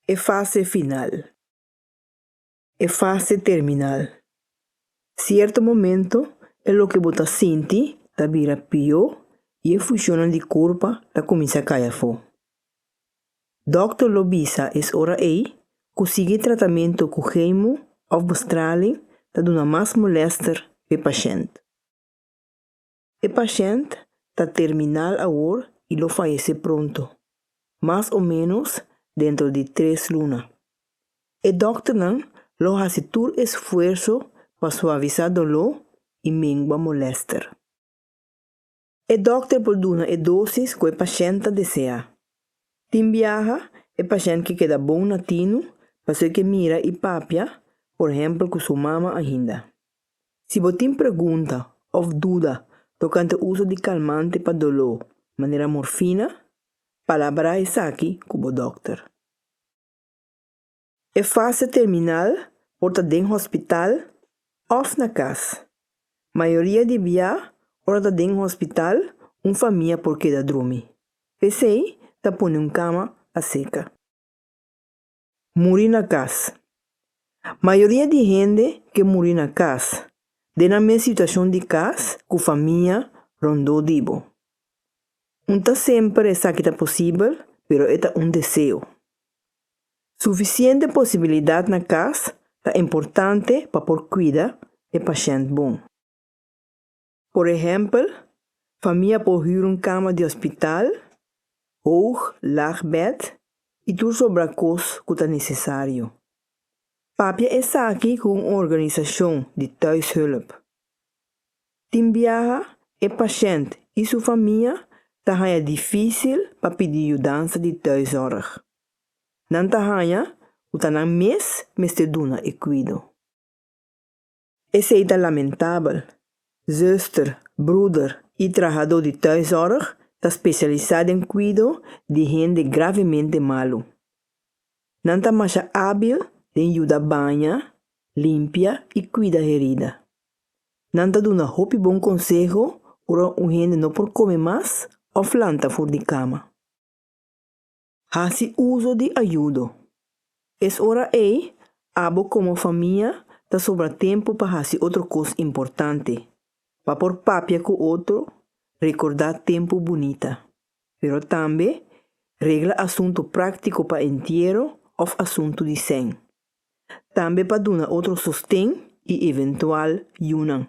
E fase final. E fase terminal. Sierto momento e loke bo ta sinti ta bira pió i e funcionnan di curpa ta cuminsa cay afó. Dokter lo bisa es ora ey cu sigui tratamento cu chemo of bestraling ta duna mas molester p'e pashent. E pashènt ta terminal awor i lo fayesé pronto, mas o ménos dentro di tres luna. E dòkternan lo hasi tur esfuerso pa suavisá doló i mengua molèster. E dòkter por duna e dosis ku e pashènt ta deseá. Tin biaha e pashènt ke keda bon na tinu pasobra ke mira i papia, por ehèmpel, ku su mama ainda. Si bo tin pregunta òf duda tokante uso di kalmante pa doló, manera morfina, palabrá esaki ku bo dòkter. E fase terminal por ta den hospital òf na kas. Mayoria di bia ora ta den hospital un famia por keda drumi, p'esei ta pone un kama pa seka. Muri na kas. Mayoria di hende ke muri na kas, den nan mes situashon di kas ku famia rondó di bo. Un ta semper esaki ta posibel, pero e ta un deseo. Sufisiente posibilidat na kas ta importante pa por kuida e pashènt bon. Por ehèmpel, famia por hür un kama di hospital, hoog, laag bed i tur sobra kos ku ta nesesario. Papia esaki ku un organisashon di thuishulp. Tin biaha e pashènt i su famia ta haña difísil pa pidi yudansa di thuiszorg. Nan ta haña ku ta nan mes mester duna e kuido. Esei ta lamentabel. Zuster, bruder i trahadó di tuiszorg ta spesialisá den kuido di hende gravemente malu. Nan ta masha ábil den yuda baña, limpia i kuida herida. Nan ta duna hopi bon konseho ora un hende no por kome mas òf lanta for di kama. Hasi uso di ayudo. Es ora ei abo komo famia ta sobra tempu pa hasi otro kos importante, pa por papia ku otro, rekordá tempu bunita. Pero tambe regla asuntu práktiko pa entiero òf asuntu di sèn. Tambe pa duna otro sosten i eventual yunan.